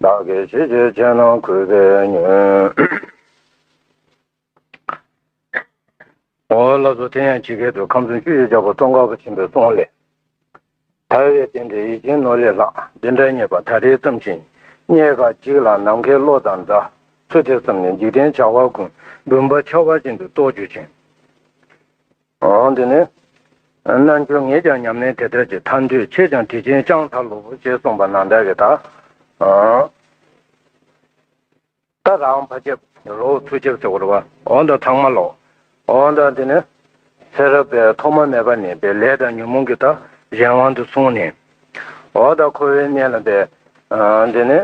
བདག་གིས་ཅི་བྱེད་ཅེ་ན་གུས་པས་ཉོན། ཨོ་བླ་བཟོ་དེ་ཡང་ཇི་སྐད་དུ་ཁམས་གསུམ་ཆུ་ཡིས་བྱ་བ་ཙོང་ཁ་བ་ཆེན་པོའི་ཙོང་ལས། དར་བའི་རྟེན་འབྲེལ་ཡིད་ཅན་ནོར་ལས་ལྷག་འདི་འདྲ་རྙེད་པ་ད་རེས་བརྩམས་ཤིང་རྙེད་ཁ་ཅིག་ལ་ནམ་མཁའི་གློག་དང་འདྲ་ཚུལ་དེ་བསམས་ནས་འཇིག་རྟེན་བྱ་བ་ཀུན་འབུམ་པ་འཆར་བ་ཅན་དུ་རྟོགས་གྱུར་ཅིང། འོང་དུས་ནི། རྣལ་འབྱོར་ངས་ཀྱང་ཉམས་ལེན་དེ་ལྟར་གྱི་ཐར་འདོད་ཆེས་ཀྱང་དྲི་ཆེན་དཔྱང་ཐག་ལུ་བུ་ཅེས་གསུངས་པ་ནང་ལྟར་གྱི་དག། ད་རང་བ་ཅབ་རོ་ཐུ་ཅབ་ཅོ་གོར་བ་འོང་དང་ཚང་མ་ལོག་འོང་དང་དེ་ནི། ཚེ་རབས་པས་ཐོག་མ་མེད་པ་ནས་པའི་ལས་དང་ཉོན་མོངས་ཀྱི་དག་གཞན་དབང་དུ་སོང་ནས། འོ་ད་ཁོ་བོའི་གནས་ལ་འབད། དེ་ནི།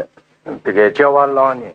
དེ་ཀའི་སྐྱེ་བ་བླངས་ནས་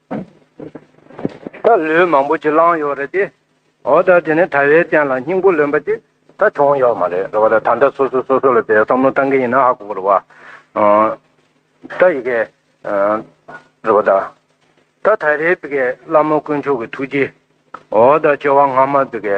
ད་ལོས་མང་པོ་ཅིག་བསླངས་ཡོད་རེད་དེ། འོ་ད་དེ་ནི་དྲ་བའི་སྟེང་ལ་སྙིང་པོ་ལོན་པ་ཅིག་ད་བྱུང་ཡོད་མ་རེད་རེད་བ་ད་ད་ལྟ་སོ་སོས་སོ་སོ་ལ་དེའི་བསམ་བློ་བཏང་གི་ཡིན་ན་ཧ་གོ་རེད་བ། ད་ཡི་གེ། རེད་བ་ད། ད་ད་རེའི་བི་གའི་བླ་མ་དཀོན་མཆོག་གི་ཐུགས་རྗེ། འོ་ད་བཅོ་བ་སྔ་མ་བི་གའི་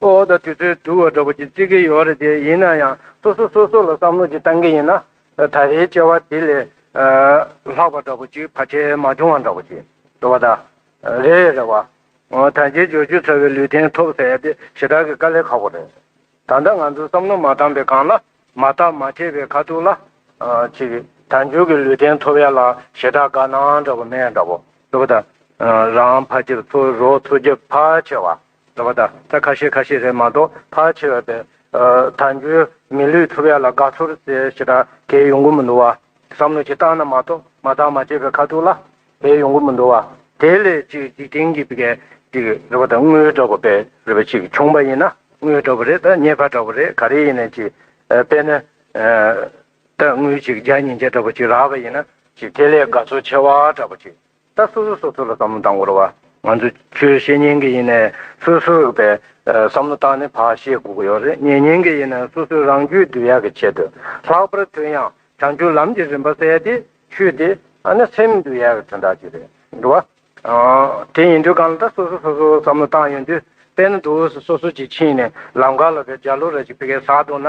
ཨོ་ད་དུས་ཚོད་དུ་བ་འདྲ་པོ་ཅིག་རྩི་གི་ཡོད་རེད་དེ་ཡིན་ན་ཡང་སོ་སོ་སོ་སོ་ལ་བསམ་བློ་ཅིག་བཏང་གི་ཡིན་ན་ད་རེའི་བཅར་བ་དེ་ལས་ལྷག་པ་འདྲ་པོ་ཅིག་བར་ཆད་མ་བྱུང་བ་འདྲ་པོ་ཅིག་འདུག་བ་ད་རེ་རེ་བ། ད་རྗེས་བརྗོད་རྒྱུ་ཚ་བའི་ལུས་རྟེན་ཐོབ་ཟེར་ཏེ་ཞེ་དྲག་གི་དཀའ་ལས་ཁག་པོ་རེད། ད་ལྟ་ང་ཚོས་བསམ་བློ་མ་བཏང་པའི་སྒང་ལ་མ་བརྟག་མ་དཔྱད་པའི་ཁ་ཐུག་ལ། ཅིག་ད་མཇུག་གི་ལུས་རྟེན་ཐོབ་ཡ་ལ་ཞེ་དྲག་དགའ་སྣང་འདྲ་པོ་མེད་འདྲ་པོ་འདུག་བ་ད་རང་ཕ་ཕྱིར་འཚོ་རོགས་འཚོ་རྒྱབ་ཕ་ཆེ་བ། ཟེར་བ་དང་ཚད་ཁ་ཤས་ཁ་ཤས་རེད་མ་གཏོགས་ཕར་ཆེ་བས་པས། ད་འགྱོད་མི་ལུས་ཐུབ་ཡ་ལ་དགའ་ཚོར་རྩེ་ཞེ་དྲག་གས་ཡོང་གི་མི་འདུག་བ། བསམ་བློ་གཅིག་བཏང་ན་མ་གཏོགས་མ་བཏང་མ་བྱས་པའི་ཁ་ཐུག་ལ་དེ་ཡོང་གི་མི་འདུག་བ། དེ་ལས་ཅིག་འཇིག་རྟེན་གྱི་བི་གས་ཅིག་རེད་བ་དང་དངུལ་འདྲ་བོ་པས་རེད་བ་ཅིག་བྱུང་བ་ཡིན་ན་དངུལ་འདྲ་བོ་རེད་ད་ཉེས་ཁ་འདྲ་བོ་རེད་ག་རེ་ཡིན་ན་ཅིག་པས་ན། ད་དངུལ་ཅིག་བརྒྱ་ཉིས་བརྒྱ་འདྲ་བོ་ཅིག་རག་བ་ཡིན་ན་ཅིག་དེ་ལས་དགའ་ཚོར་ཆེ་བ་འདྲ་བོ་ཅིག་ད་སོ་སོས་སོ་སོ་ལ་བསམ་བློ་བཏང་དགོས་རོ། ང་ཚོས་ཁྱོད་བཤེས་གཉེན་གྱི་ཡིན་ནས་སོ་སོས་བས་བསམ་བློ་བཏང་ནས་བག་ཤེས་དགོས་ཀྱི་ཡོད་རེད་གཉེན་ཉེ་གྱི་ཡིན་ན་སོ་སོས་རང་རྒྱུད་བསྡུ་ཡག་གི་ཆེད་དུ་ལྷག་པར་དུ་ཡང་བྱང་ཆུབ་ལམ་གྱི་རིམ་པ་གསལ་ཏེ་ཆུད་དེ་ཨ་ན་སེམས་བསྡུ་ཡག་གི་དོན་དག་ཅིག་རེད་འགྲོ་བ། དེ་ཡིན་དུས་གང་ལ་ད་སོ་སོས་སོ་སོ་བསམ་བློ་བཏང་ཡོད་དུས་དཔེར་ན་དུས་འོས་སུ་སོ་སོ་གཅིག་ཕྱིན་ནས་ལམ་ཁ་ལ་བས་འཇའ་ལུས་ར་གཅིག་སྤེལ་གས་ཟགས་འདུག་ན་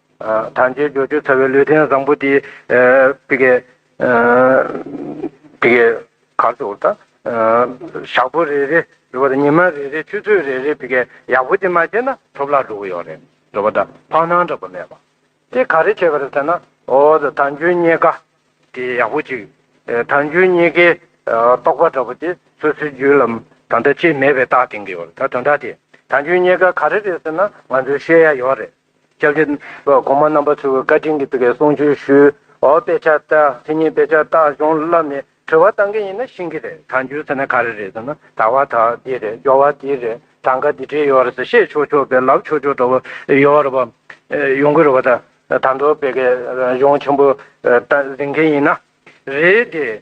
དང་བཅས་འབྱོར་བཅུ་ཚ་བའི་ལུས་རྟེན་བཟང་པོ་འདི། བི་གའི། བི་གའི། གར་དུ་ལྟ། ཞག་པོ་རེ་རེ་རེ་བ་དང་ཉི་མ་རེ་རེ་ཆུ་ཚོད་རེ་རེ་བི་གའི་ཡག་པོ་འདི་མ་བྱས་ན་ཐོབ་ལག་འགྲོ་གི་ཡོག་རེད་འགྲོ་བ་དང་ཕང་སྣང་འདྲ་པོ་མེད་པ། དེ་ག་རེ་བྱས་པ་རེད་ཟེར་ན་ཨོ་ད་ཐང་ཆུའི་རྙེད་ཀ་དེ་ཡག་པོ་ཅིག་ཐང་ཆུའི་རྙེད་ཀའི་རྟོག་པ་འདྲ་པོ་དེ་སོ་སོའི་རྒྱུད་ལམ་དང་ད་ཅི་མེད་པའི་རྟགས་འདིང་གི་ཡོག་རེད་ད་དོན་དག་དེ་ཐང་ཆུའི་རྙེད་ཀ་ག་རེ་རེད་ཟེར་ན་ང་ཚོའི་བཤད་ཡ་ཡོག་རེད། སྐྱབས་རྗེ་གོང་མ་རྣམ་པ་ཚོས་བཀའ་དྲིན་གྱི་བཀའི་གསུང་ཆོས་ཞུས། དཔེ་ཆ་བལྟ། དེ་གཉིས་དཔེ་ཆ་བལྟ་གཞུང་བསླབས་ནས་དྲི་བ་བཏང་མཁན་ཡིན་ན་ཤེས་ཀྱི་རེད་ད་འགྱུར་ཟེར་ན་ག་རེ་རེད་ཟེར་ན་དག་བ་དག་འདི་རེད་སྦྱོར་བ་འདི་རེད་གྲངས་ཀ་འདི་བྲིས་ཡོད་རེད་ཟེར་བཤད་ཆོག་ཆོག་པའི་ལབ་ཆོག་ཆོག་འདྲ་བོ་ཡོང་རེད་པ། ཡོང་གི་རེད་པ་ད། དང་ཐོག་བོད་སྐད་གཞུང་ཆེན་པོ་ཟིན་མཁན་ཡིན་ན་རེད་དེ།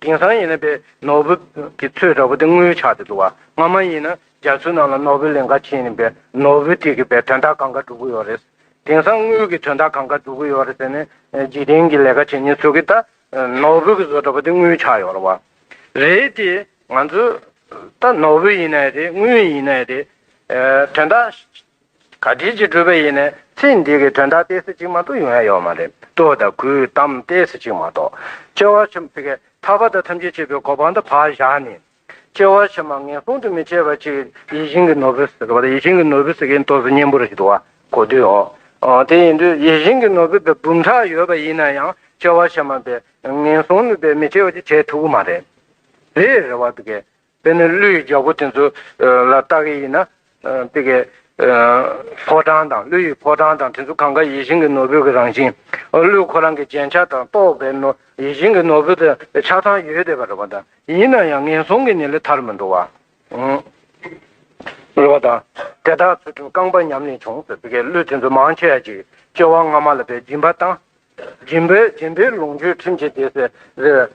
དེང་སང་ཡིན་ན་པའི་ནོར་བུ་གི་ཚོས་འདྲ་བོ་དེ་དངུལ་ཆགས་ཏེ་འདུག་བ་སྔ་མ་ཡིན་ན་རྒྱ་མཚོའི་ནང་ལ་ནོར་བུ་ལིང་ག་ཕྱིན་ནས་པའི་ནོར་བུ་དེ་གི་པའི་དོན་དག་གང་ག་འགྲུབ་གི་ཡོད་རེད། དེང་སང་དངུལ་གི་དོན་དག་གང་ག་འགྲུབ་གི་ཡོད་རེད་ཟེར་ནས་འཇིག་རྟེན་གི་ལས་ཀ་བྱེད་ཉེན་ཚོད་གི་ད་ནོར་བུ་གི་ཚོས་འདྲ་བོ་དེ་དངུལ་ཆགས་ཡོད་རེད་བ། རེད་དེ། ང་ཚོས་ད་ནོར་བུ་ཡིན་ན་ཡང་རེད་དངུལ་ཡིན་ན་ཡང་རེད། དོན་དག། ག་དུས་ཀྱི་གྲུབ་པ་ཡིན་ནས་ཚིག་འདི་གི་དོན་དག་གཏད་སྲིད་ཅིག་མ་གཏོགས་ཡོང་ཡ་ཡོད་མ་རེད་ལྟོས་དང་གུས་གཏམ་གཏད་སྲིད་ཅིག་མ་གཏོགས་སྐྱེ་བ་ཕྱི་མ་ཕི་གས་ཐར་པ་དང་ཐམས་ཅད་བྱེད་པའི་གོ་འཕང་དུ་བག་བཞག་ནས། སྐྱེ་བ་ཕྱི་མ་ངན་སོང་དུ་མི་བྱེད་པ་ཅིག་ཡིད་བཞིན་གྱི་ནོར་བུ་ཟེར་བ་དང་ཡིད་བཞིན་གྱི་ནོར་བུ་ཟེར་མཁན་ཏོག་ཙེ་གཉན་པོ་རེད་འདུག་གོ་དུས་འོང་དེ་ཡིན་དུས་ཡིད་བཞིན་གྱི་ནོར་བུ་བའི་འབུམ་ཕྲག་ཡོད་པ་ཡིན་ན་ཡང་སྐྱེ་བ་ཕྱི་མ་པའི་ངན་སོང་ནུས་པའི་མི་བྱེད་པ་ཅིག་བྱེད་ཐུབ་ཀྱི་མ་རེད་རེད་རེད་བ་ཕི་གས། དཔེར་ན་གླུ་ཡི་རྒྱལ་པོ་དེ་ཚོ་ལ་བལྟ་གི་ཡིན་ན། དེ་གའི་ཕོ་བྲང་དང་གླུ་ཡི་ཕོ་བྲང་དང་དེ་ཚོ་གང་གཱ་ཡིད་བཞིན་གྱི་ནོར་བུ་གྱི་རང་བཞིན། གླུ་ཁོ་རང་གི་རྒྱན་ཆ་དང་རྟོགས་པའི་ཡིད་བཞིན་གྱི་ནོར་བུ་དེ་ཆ་ཚང་ཡོད་བསྡད་པ་རེད་བ་དང་ཡིན་ན་ཡང་ངན་སོང་གི་ནི་ལས་ཐར་མི་འགྲོ་བ། རེད་བ་དང། དེ་དག་ཚུལ་ཁྲིམས་རྐང་པ་ཉམས་ནས་བྱུང་ཟེར་དེ་གའི་གླུ་དེ་ཚོ་མང་ཆེ་བ་ཅིག་སྐྱེ་བ་སྔ་མ་ལ་བའི་སྦྱིན་པ་དང་རྗེ་འབའ་རྗེ་འབའི་ལོངས་སྤྱོད་ཁྲིམས་བྱེད་རྒྱལ་སྲས།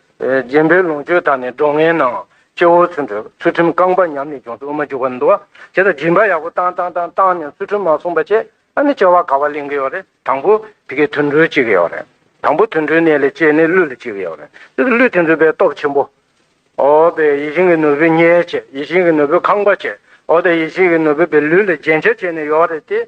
རྗེ་འབའི་ལོངས་སྤྱོད་དག་ནི་སྒྲོ་ངན་ནའང། སྐྱེ་བོ་ཚུལ་འཁྲུལ་ཚུལ་ཁྲིམས་རྐང་པ་ཉམས་ནས་ལྗོངས་སུ་དབུ་མ་འཇུག་པར་འདུ་བ། དེ་དང་སྦྱིན་པ་ཡག་པོ་བཏང་བཏང་བཏང་བཏང་ནས་ཚུལ་ཁྲིམས་མ་བསྲུངས་པ་བྱས་ཨ་ནི་བྱ་བ་ག་བ་གླེང་གི་ཡོད་རེད་དང་པོ་དེ་གའི་དུད་འགྲོའི་གཅིག་གི་ཡོད་རེད་དང་པོ་དུད་འགྲོའི་གནས་ལས་སྐྱེས་ནི་ཀླུ་ལ་གཅིག་གི་ཡོད་རེད་དེ་ཀླུ་དེ་ཚོའི་པའི་སྟོབས་ཆེན་པོ། ཨོ་པའི་ཡིད་བཞིན་གྱི་ནོར་བུའི་གཉེར་བྱེད་ཡིད་བཞིན་གྱི་ནོར་བུའི་ཁང་པ་བྱས་ཨོ་དེ་ཡིད་བཞིན་གྱི་ནོར་བུ་པའི་ལུས་ལ་རྒྱན་ཆ་བྱས་ནས་ཡོད་རེད་དེ།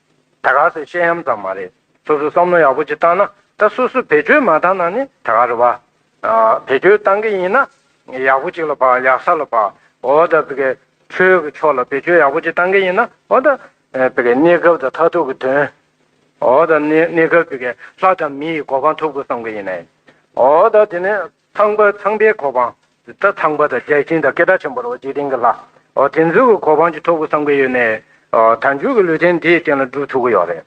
ད་ག་ཟེ་བཤད་ཡམ་ཙམ་མ་རེད་སོ་སོ་བསམ་བློ་ཡག་པོ་ཅིག་བཏང་ན་ད་སོ་སོ་བེད་སྤྱོད་མ་བཏང་ན་ནི་ད་ག་རེད་བ། བེད་སྤྱོད་བཏང་གི་ཡིན་ན་ཡག་པོ་ཅིག་ལ་བ་ཡག་ས་ལ་བ་འོ་ད་བི་གེ་ཆོས་གི་ཕྱོགས་ལ་བེད་སྤྱོད་ཡག་པོ་ཅིག་བཏང་གི་ཡིན་ན་འོ་ད་བི་གེ་གནས་སྐབས་དང་མཐའ་ཐུག་གི་དོན་འོ་ད་གནས་སྐབས་བི་གེ་ལྷ་དང་མི་ཡི་གོ་འཕང་ཐུབ་གི་བསམ་གི་ཡིན་ནའི་འོ་ད་དེ་ནས། ཚངས་པ་ཚངས་པའི་གོ་འཕང། རྩ་ཚངས་པ་དང་བརྒྱ་བྱིན་དང་སྐད་གྲགས་ཆེན་པོར་འོ་བརྒྱལ་གཏིང་གི་ལྷ། དེ་ཚོའི་གི་གོ་འཕང་གྱི་ཐོབ་གོ་བསམ་གི་ཡོད་ནས། དལ་འབྱོར་གི་ལུས་རྟེན་དེའི་སྟེང་ལ་སྒྲུབ་ཐུབ་གི་ཡོད་རེད།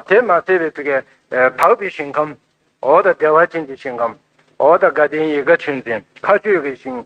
དེ་མ་ཟད་པའི་ཐུགས་ཀའི་འཕགས་པའི་ཞིང་ཁམས། དང་བདེ་བ་ཅན་གྱི་ཞིང་ཁམས། དང་དགའ་ལྡན་ཡིད་དགའ་ཆོས་འཛིན་མཁའ་སྤྱོད་ཀྱི་ཞིང།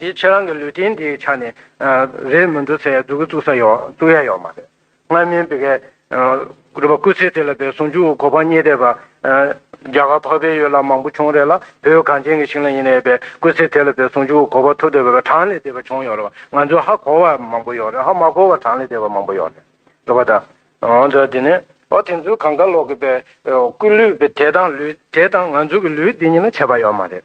དེའི་ཕྱིར་རང་གི་ལུས་རྟེན་དེའི་ཆ་ནས་རེད་མི་འདུག་ཚེ་སྡུག་གི་བཙུགས་ས་ཡོད་བཙུགས་ཡ་ཡོད་མ་རེད། སྔར་མིན་པའི་གལ། རུ་བ་སྐུ་ཚེ་དེ་ལ་བའི་ཟུང་འཇུག་གོ་འཕང་བརྙེས་བསྡད་པ། རྒྱ་གར་འཕགས་པའི་ཡུལ་ལ་མང་པོ་བྱུང་རེད་ལ་བོད་གངས་ཅན་གྱི་ཞིང་ལ་ཡིན་ནའི་བའི་སྐུ་ཚེ་དེ་ལ་བའི་ཟུང་འཇུག་གོ་བ་ཐུབ་བསྡད་པའི་བ་གྲངས་ལས་འདས་པ་བྱུང་ཡོད་རེད་བ་ང་ཚོས་ཧ་གོ་བ་མང་པོ་ཡོད་རེད་ཧ་མ་གོ་བ་གྲངས་ལས་འདས་པ་མང་པོ་ཡོད་རེད་བ་དང། འོན་ཀྱང་དེ་ནས། ཨོ་དེ་ཚོའི་གངས་དཀར་ལོག་གི་བའི་སྐུ་ལུས་བའི་དེ་དང་ལུས་དེ་དང་ང་ཚོའི་གི་ལུས་འདི་གཉིས་ལ་ཁྱད་པར་ཡོད་མ་རེད།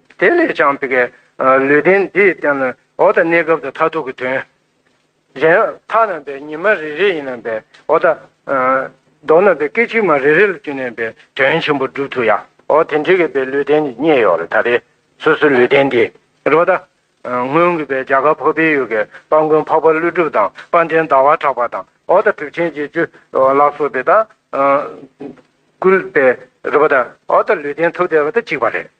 དེ་ལས་ཀྱང་བི་གའི་ལུས་རྟེན་འདིས་བསྟན་ནོ། འོ་ད་གནས་སྐབས་དང་མཐར་ཐུག་གི་དོན། གཞན། མཐའ་རྣམ་པའི་ཉི་མ་རེ་རེ་ཡིན་ནམ་པའི། འོ་ད། མདོ་རྣམ་པའི་སྐད་ཅིག་མ་རེ་རེ་ལ་བསྐྱུར་ནས་པའི་དོན་ཆེན་པོ་བསྒྲུབ་ཐུབ་ཡ། འོ་དེ་འདྲི་གི་པའི་ལུས་རྟེན་ནི་རྙེད་ཡོད་ལ་ད་རེས་སོ་སོའི་ལུས་རྟེན་འདི། རོ་ད། སྔོན་གྱི་པའི་རྒྱ་གར་འཕགས་པའི་ཡུལ་གྱི་དཔའ་མགོན་འཕགས་པ་ཀླུ་སྒྲུབ་དང་དཔའ་འདྲེན་ཟླ་བ་གྲགས་པ་དང་འོ་ད་གྲུབ་ཆེན་བརྒྱད་ཅུ་ལ་སོགས་པའི་ད། སྐུལ་པའི་རོ་ད། འོ་ད་ལུས་རྟེན་ཐུགས་བརྟས་པ་དང་གཅིག་པ་རེད།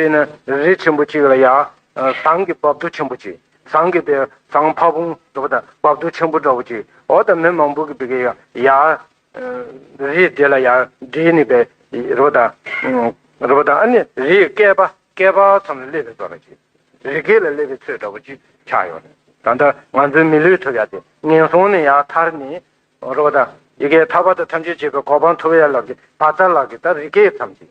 དཔེར་ན་རི་ཆེན་པོ་གཅིག་ལ་ཡང། ཟངས་ཀྱི་རྦབ་རྡོ་ཆེན་པོ་གཅིག་ཟངས་ཀྱི་དེ་ཟངས་ཕ་བོང་འདྲ་པོ་དང་རྦབ་རྡོ་ཆེན་པོ་འདྲ་པོ་གཅིག་འོ་ད་མི་མང་པོ་གི་བི་གེ་ཡང་ཡང། རི་དེ་ལ་ཡང་འདྲིས་ནི་པའི་རི་བོ་དང། རི་བོ་དང་ཨ་ནི་རིའི་བསྐལ་པ་བསྐལ་པ་ཙམ་ལ་སླེབས་པའི་བར་གཅིག་རི་སྐེད་ལ་སླེབས་པའི་ཚོད་འདྲ་པོ་གཅིག་ཆགས་ཡོང་ནས་ད་ལྟ་ང་ཚོའི་མི་ལུས་ཐུབ་ཡ་དེ་ངན་སོང་ནས་ཡང་ཐར་ནས། རི་བོ་དང་ཡི་གེ་ཐར་པ་དང་ཐམས་ཅད་བྱེད་པའི་གོ་འཕང་ཐུབ་ཡ་ལགས་ཀྱི་བ་ཚ་ལགས་ཀྱི་ད་རི་སྐེད་ཙམ་གཅིག།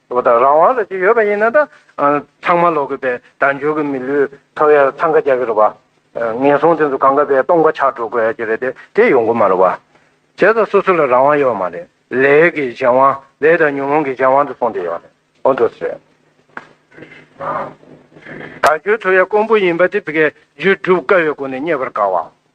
ལོ་དང་རང་དབང་ལ་ཅི་ཡོད་པ་ཡིན་ན་ད་ཚང་མ་ལོག་གི་པའི་དལ་འབྱོར་གི་མི་ལུས་ཐོ་བས་འཚང་ཁ་རྒྱག་གི་རེད་པ། ངན་སོང་དེ་ཚོ་གང་ག་པའི་སྟོང་པ་ཆགས་འགྲོ་དགོས་ཀྱི་རེད་དེ་དེ་ཡོང་གི་མ་རེད་བ། བྱས་ཙང་སོ་སོ་ལ་རང་དབང་ཡོད་མ་རེད། ལས་ཀྱི་གཞན་དབང་ལས་དང་ཉོན་མོངས་ཀྱི་གཞན་དབང་དུ་སོང་སྡད་ཡོད་རེད་ཨོ་འདོད་སེ། དལ་འབྱོར་ཐོ་བས་དཀོན་པོ་ཡིན་པ་དེ་བི་གས་རྒྱུད་སྒྲུབ་དཀའ་བའི་སྒོ་ནས་རྙེད་པར་དཀའ་བ།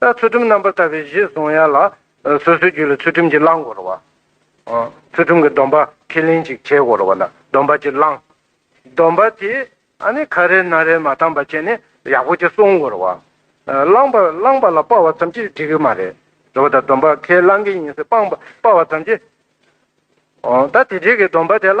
ལྟར་ཚུལ་ཁྲིམས་རྣམ་པར་དག་པའི་གཞི་བཟུང་ཡ་ལ། སོ་སོའི་རྒྱུད་ལ་ཚུལ་ཁྲིམས་ཀྱིས་བླང་དགོ་རུ་བ། ཚུལ་ཁྲིམས་ཀྱི་སྡོམ་པ་ཁས་ལེན་ཅིག་བྱེད་དགོ་རུ་བ་ལ་སྡོམ་པ་གྱིས་བླང། སྡོམ་པ་དེ་ཁ་རལ་ན་རལ་མ་བཏང་པ་བྱས་ནས་ཡག་པོ་གྱིས་བསྲུང་དགོ་རུ་བ། བླང་བ་བླང་བ་ལ་སྤ་བ་ཙམ་གྱིས་འགྲིག་གི་མ་རེད། རུ་བ་ད་སྡོམ་པ་ཁས་བླང་གི་ཡིན་ཟེར་སྤང་བ་སྤ་བ་ཙམ་གྱིས། ད་དེ་འགྲིག་གི་སྡོམ་པ་དེ་ལ་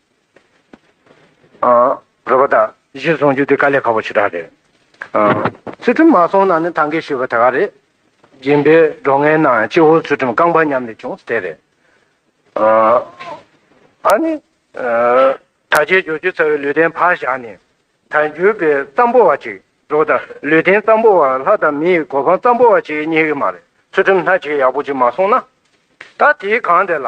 རོལ་པ་དང་གཞིར་བཟུང་རྒྱུ་དེ་དཀའ་ལས་ཁག་པོ་ཆེ་དྲག་རེད། ཚུལ་ཁྲིམས་མ་སྲོང་ན་ནི་ཐང་གའི་ཤུལ་བ་དེ་ག་རེད། སྦྱིན་པའི་སྒྲོ་ངན་ནང་ཡང་སྤྱི་བོར་ཚུལ་ཁྲིམས་རྐང་པ་ཉམས་ནས་བྱུང་ཟེར་དེ་རེད། ཨ་ནི། ད་རྗེས་སྦྱོར་རྒྱུ་ཚར་བའི་ལུས་རྟེན་ཕར་བཞག་ནས། ད་འགྱུར་པའི་རྩམ་པོ་བ་ཅིག་འགྲོ་དང་ལུས་རྟེན་རྩམ་པོ་བ་ལྷ་དང་མི་ཡི་གོ་འཕང་རྩམ་པོ་བ་ཅིག་རྙེད་གི་མ་རེད་ཚུལ་ཁྲིམས་སྣ་གཅིག་ཡག་པོ་ཅིག་མ་སྲོང་ན། ད་དེའི་གང་དེ་ལ།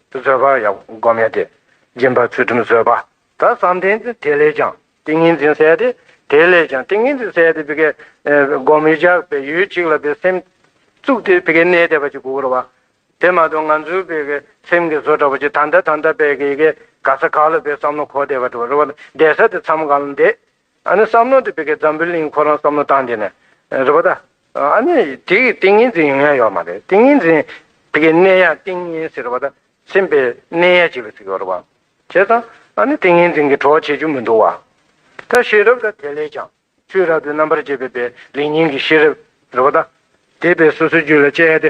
བཟོད་པ་ཡང་བསྒོམ་མེད་དེ། སྦྱིན་པ་ཚུལ་ཁྲིམས་བཟོད་པ་དག་བསམ་གཏན་ཏེ་དེ་ལས་ཀྱང་ཏིང་ངེ་འཛིན་གསལ་ཏེ། དེ་ལས་ཀྱང་ཏིང་ངེ་འཛིན་གསལ་ཏེ། བསྒོམ་མི་རྒྱག་པའི་ཡུལ་གཅིག་ལ་བའི་སེམས། བཙུགས་ཏེ་གནས་དེ་བ་ཅི་དགུ་བར་བ། དེ་མ་ཐོན་ང་ཚོའི་བའི་སེམས་ཀྱི་བཟོ་འདྲ་བ་ཅི་ད་ལྟ་ད་ལྟ་བའི་ག་ས་ག་ལ་བའི་བསམ་བློ་གོ་བདེ་བ་འགྲོ་བ། བདེ་ས་དེ་མཚམས་གང་ལ་འདས། ཨ་ནི་བསམ་མནོ་དེ་བི་ཀའི་འཛམ་བུའི་གླིང་ཁོ་རང་བསམ་མནོ་བཏང་དེ་ནས་རེད་པ་ད། ཨ་ནི་དེ་གི་ཏིང་ངེ་འཛིན་ཡོང་ཡ་ཡོད་མ་རེད་ཏིང་ངེ་འཛིན་དེ་གི་གནས་ཡ་ཏིང་ངེ་ཟེར་བ་ད་སེམས་པའི་གནས་ཡ་ཅིག་ལ་ཟིག་ཡོད་རེད་པ། བྱས་ཙང་ཨ་ནི་ཏིང་ངེ་འཛིན་གི་བྲོ་བ་བྱེད་རྒྱུ་མི་འདུག་བ། ད་ཤེས་རབ་ད་དེ་ལས་ཀྱང་ཆུའི་རབ་ཏུ་རྣམ་པར་འབྱེད་པའི་པའི་ལིང་ཉིང་གི་ཤེས་རབ་རེད་པ་ད། དེ་པའི་སོ་སོའི་རྒྱུད་ལ་དཔྱད་ཡ་དེ་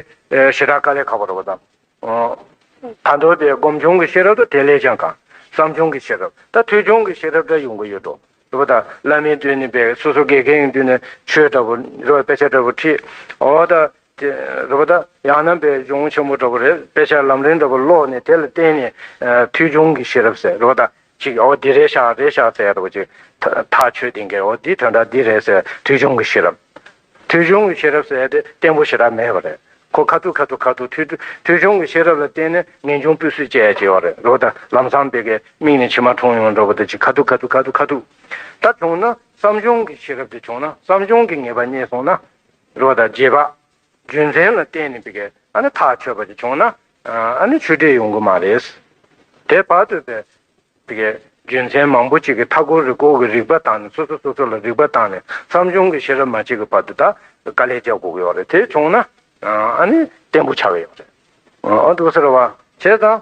ཞེ་དྲག་དཀའ་ལས་ཁག་པོ་རེད་པ་ད། དང་དོད་དེ་སྒོམ་བྱུང་གི་ཤེས་རབ་དང་དེ་ལས་ཀྱང་གང། བསམ་བྱུང་གི་ཤེས་རབ་དང་ཐོས་བྱུང་གི་ཤེས་རབ་འདྲ་ཡོང་གི་ཡོད་དོ། ཞེས་པ་དང། བླ་མའི་མདུན་ནས་འབད། སོ་སོ་གེ་གེའི་མདུན་ནས་ཆོས་འདྲ་པོ། དཔེ་ཆ་འདྲ་པོ་ཁྲིད། འོ་ད། ཞེས་པ་དང། ཡང་ན་འབད་བྱུང་ཆེན་པོ་འདྲ་པོ་རེད། དཔེ་ཆ་ལམ་རིམ་འདྲ་པོ་ཀློག་ནས་དེ་ལ་བརྟེན་ནས། ཐོས་བྱུང་གི་ཤེས་རབ་ཟེར། ཞེས་པ་དང། ཅིག་ཨོ་འདི་རེད་ཤག་རེད་ཤག་ཟེར་ཡ་འདུག་ཅིག། ཐག་ཆོད་དེང་གི་ཨོ་འདི་དོན་དག་འདི་རེད་ཟེར་ཐོས་ཆུང་གི་ཤེས་རབ། ཐོས་ཆུང་གི་ཤེས་རབ་ཟེར་དེ་བརྟན་པོ་ཞེ་དྲག་མེད་པ་རེད། ཁོ་ཁ་ཐུག་ཁ་ཐུག་ཁ་ཐུག་ཐོས་ཐོས་ཆུང་གི་ཤེས་རབ་ལ་བརྟེན་ནས་ངན་ཆུང་སྤུས་གསུས་བཅས་བྱས་བ་རེད་རོ། ད་ལམ་སང་བེ་གའི་མིག་ནས་མཆི་མ་འཁྲུངས་ཡོང་འགྲོ་བ་འདུག་ཅིག་ཁ་ཐུག་ཁ་ཐུག་ཁ་ཐུག་ཁ་ཐུག། ད་བྱུང་ན་བསམ་ཆུང་གི་ཤེས་རབ་དེ་བྱུང་ན་བསམ་ཆུང་གི་ངེས་པ་རྙེད་སོང་ན་རོ། ད་རྗེས་དཔག་རྒྱུ་མཚན་ལ་བརྟེན་ནས་པིཀ་ཨ་ནི་ཐག་ཆོད་པ་ཞིག་བྱུང་ན་ཨ་ནི་ཆུ་འདྲེས་ཡོང་གི་མ་རེད། དེ་བར་དུ་པིཀ་ཨའི་རྒྱུ་མཚན་མང་པོ་ཅིག་གི་མཐའ་འཁོར་རི་སྐོར་གྱི་རིག་པ་བཏང་ནས་སོ་སོ་སོ་སོ་ལ་རིག་པ་བཏང་ནས་བསམ་བྱུང་གི་ཤེས་རབ་མ་བྱེད་ཀྱི་བར་དུ་ད་དཀའ་ལས་བརྒྱག་དགོས་ཀྱི་ཡོད་རེད་དེ་བྱུང་ན་ཨ་ནི་བརྟན་པོ་ཆགས་ཀྱི་ཡོད་རེད། ཨོ་ཏོ་སེར་བ་བྱས་ཙང་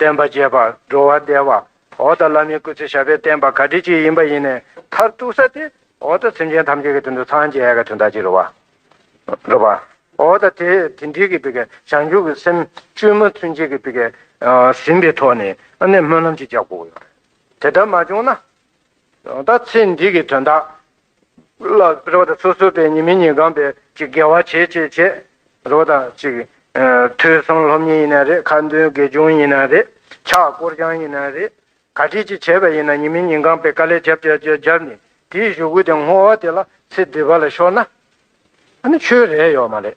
བསྟན་པ་རྒྱས་པར་འགྲོ་བར་བདེ་བ། འོག་དང་བླ་མའི་སྐུ་ཚེ་ཞབས་པད་བརྟན་པ་ག་དུས་ཅིག་ཡིན་པ་ཡིན་ནས་མཐར་གཏུགས་ས་དེ་འོག་དང་སེམས་ཅན་ཐམས་ཅད་ཀྱི་དོན་དུ་སངས་རྒྱས་ཀྱི་དོན་དག་ཅིག་རོལ་བ། འགྲོ་བ། འོག་དང་དེ་དེ་འདྲིལ་གྱི་བི་གའི་བྱང་ཆུབ་ཀྱི་སེམས་བཅོས་མ་ཚུན་ཆད་ཀྱི་བི་གའི་ཟིན་པའི་ཐོག་ནས་ནས་སྨོན་ལམ་ཅིག་རྒྱག་དགོས་ཀྱི་ཡོད་རེད། དེ་ལྟར་མ་བྱུང་ན། ད་ལྟ་ཚེ་འདི་གི་དོན་དག། ལ་རེ་བ་དང་སོ་སོ་པའི་ཉི་མི་ཉི་སྒང་པའི་ཅིག་དགེ་བ་བྱེད་ཅེས་བྱས་རེ་བ་དང་ཅིག། ཐོས་བསམ་སློབ་གཉེར་ཡིན་ན་རེད་ཁ་འདོན་དགེ་སྦྱོང་ཡིན་ན་རེད་ཕྱག་བསྐོར་རྐྱང་ཡིན་ན་རེད་ག་དྲིས་ཅིག་བྱས་པ་ཡིན་ན་ཉི་མི་ཉི་སྒང་པའི་དཀའ་ལས་བརྒྱབ་བརྒྱབ་བརྒྱབ་བརྒྱབ་ནས་དེའི་གཞུག་གུ་དེ་བསྔོ་བ་དེ་ལ་ཚེ་འདི་བ་ལ་ཤོར་ན། ཨ་ནི་ཆོས་རེད་ཡོད་མ་རེད།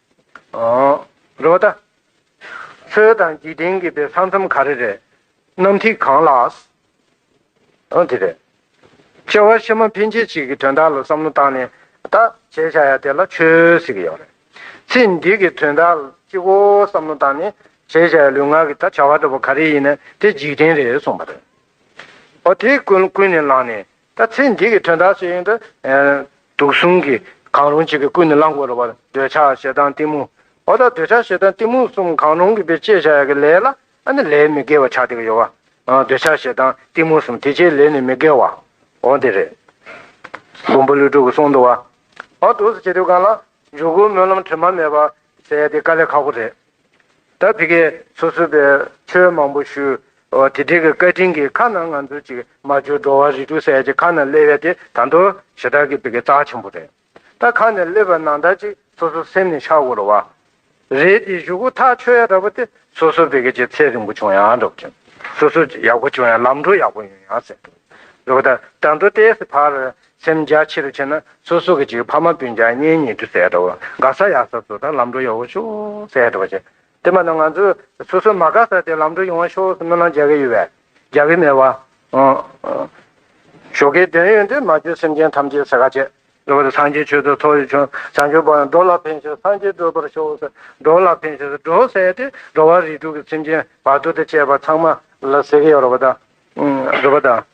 རེད་བ་ད། ཚོའི་དང་འཇིག་རྟེན་གྱི་དཔེ་ས་མཚམས་ག་རེ་རེད། གནམ་ཐིག་གང་ལགས། ཨང་དེ་རེད། ཁྱེད་བ་ཕྱི་མ་ཕན་ཆད་ཅིག་གི་དོན་དག་ལ་བསམ་བློ་བཏང་ནས་ད་བྱས་བྱ་ཡ་དེ་ལ་ཆོས་ཟེར་གི་ཡོག་རེད། ཚེ་འདི་གི་དོན་དག་ལ་གཅིག་བོ་བསམ་བློ་བཏང་ནས་བྱས་བྱ་ཡ་ལུས་ངག་གི་ད་བྱ་བ་འདྲ་བོ་ག་རེ་ཡིན་ན་དེ་འཇིག་རྟེན་རེད་གསུངས་པ་རེད། ཨོ་དེ་ཀུན་ནས་ལངས་ནས་ད་ཚེ་འདི་གི་དོན་དག་ཅི་ཡིན་ཏེ། དུག་གསུམ་གྱིས་གང་རུང་གཅིག་གིས་ཀུན་ནས་བསླང་དགོས་རུང་བར་འདོད་ཆགས་ཞེ་སྡང་གཏི་མུག། འོ་ད་འདོད་ཆགས་ཞེ་སྡང་གཏི་མུག་གསུམ་གང་རུང་གིས་པའི་བཅད་བྱ་ཡ་གི་ལས་ལ་ཨ་ནི་ལས་མི་དགེ་བ་བྱ་སྟེ་གི་ཡོ་བ། འདོད་ཆགས་ཞེ་སྡང་གཏི་མུག་གསུམ་དེ་བཅད་ལས་ནི་མི་དགེ་བ། འོ་དེ་རེད། བུམ་པ་ལུས་དྲུག་གི་གསུང་དུ་བ། འོ་དུག་གསུ་བྱེད་དུས་གང་ལ། འཇུག་སྒོའི་སྨོན་ལམ་དྲི་མ་མེད་པ། ཟས་དེ་དཀའ་ལས་ཁག་པོ་རེད། ད་དེ་གས་སོ་སོས་པའི་ཆོས་མང་པོ་ཞུ། དེ་དྲེགས་ཀྱི་བཀའ་དྲིན་གྱིས་ཁ་ནང་ང་ཚོ་ཅིག་མ་བཅོས་འགྲོ་བ་རིགས་དྲུག་སད་ཅིག་ཁ་ན་སླེ་བས་དེ་ད་འདོ་ཞེ་དྲག་གི་བི་གས་རྩ་ཆེན་པོ་རེད། ད་ཁ་ནས་སླེ་བ་ནང་ད་ཅིག་སོ་སོ་སེམས་ནས་ཤ་བོར་བ། རེད་དེ་བཞུགས་གོ་ཐག་ཆོད་ཡ་འདྲ་པོ་དེ་སོ་སོ་བི་གས་ཀྱི་ཚེ་རིང་པོ་བྱུང་ཡ་འདྲ་པོ་བྱུང། སོ་སོ་ཡག་པོ་བྱུང་ཡ་ལམ་འགྲོ་ཡག་པོ་ཡོང་ཡ་སེ་འདྲ་པོ། རེད་པ་ད་ད་འདོ་ལྟས་སི་བར་སེམས་རྒྱ་ཆེ་རུ་བྱེད་ན་སོ་སོ་གི་གཅིག་ཕ་མ་སྤུན་ཆང་གཉེན་ཉེ་དུ་ཟས་འདྲ་བོ་དགའ་ས་ཡག་ས་སོ་ད་ལམ་འགྲོ་ཡག་བོ་ཤོག་ཟས་འདྲ་བོ་བྱེད་དེ་མ་ད་ང་ཚོ་སོ་སོ་མ་དགའ་ས་དེ་ལམ་འགྲོ་ཡོང་བ་ཤོག་སྨོན་ལམ་རྒྱག་གི་ཡོད་བས་རྒྱག་གི་མེད་བ་ཞོག་གི་དོན་ཡོད་འདི་མ་བརྗོད་སེམས་ཅན་ཐམས་ཅད་ཟས་ག་ཆད། ལོ་བར་སངས་རྒྱས་ཆོས་ཚོགས་ཚོགས་ཡོད་བྱུང་བྱང་ཆུབ་བར་འགྲོ་ལ་ཕན་ཞིང་སངས་རྒྱས་བགྲོད་པར་ཤོག་འགྲོ་ལ་ཕན་ཞིང་འགྲོ་ཟས་དེ་འགྲོ་བ་རིགས་དྲུག་གི་སེམས་ཅན་བར་དོ་དེ་བཅས་པ་ཚང་མ་ལ་ཟས་ཀྱི་ཡོད་རོ་བ་དང་རོ་བ་དང།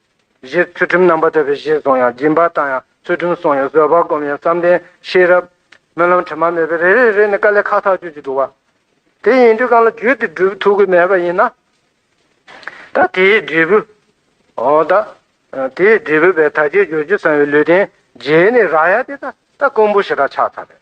གཞིར་ཚུལ་ཁྲིམས་རྣམ་པར་དག་པའི་གཞིར་བཟུང་ཡང་སྦྱིན་པ་བཏང་ཡང་ཚུལ་ཁྲིམས་བསྲུངས་ཡང་བཟོད་པར་བསྒོམས་ཡང་བསམ་གཏན་ཤེས་རབ། སྨོན་ལམ་དྲི་མ་མེད་པས་རེ་རེ་རེ་ནས་དཀའ་ལས་ཁག་ཐག་གཅོད་ཀྱི་འདུག་བ། དེ་ཡིན་དུས་གང་ལ་བརྒྱུད་དེ་འབྲས་བུ་ཐོབ་གི་མེད་པ་ཡིན་ན། ད་དེའི་འབྲས་བུ། འོ་ད། དེའི་འབྲས་བུ་བས་ད་ཁྱེད་རྒྱུར་གྱུར་ཚང་བའི་ལུས་རྟེན་རྗེས་ནས་རག་ཡ་དེ་ད་ད་ཀོང་བུ་ཞེ་དྲག་ཆགས་ཚར་རེད།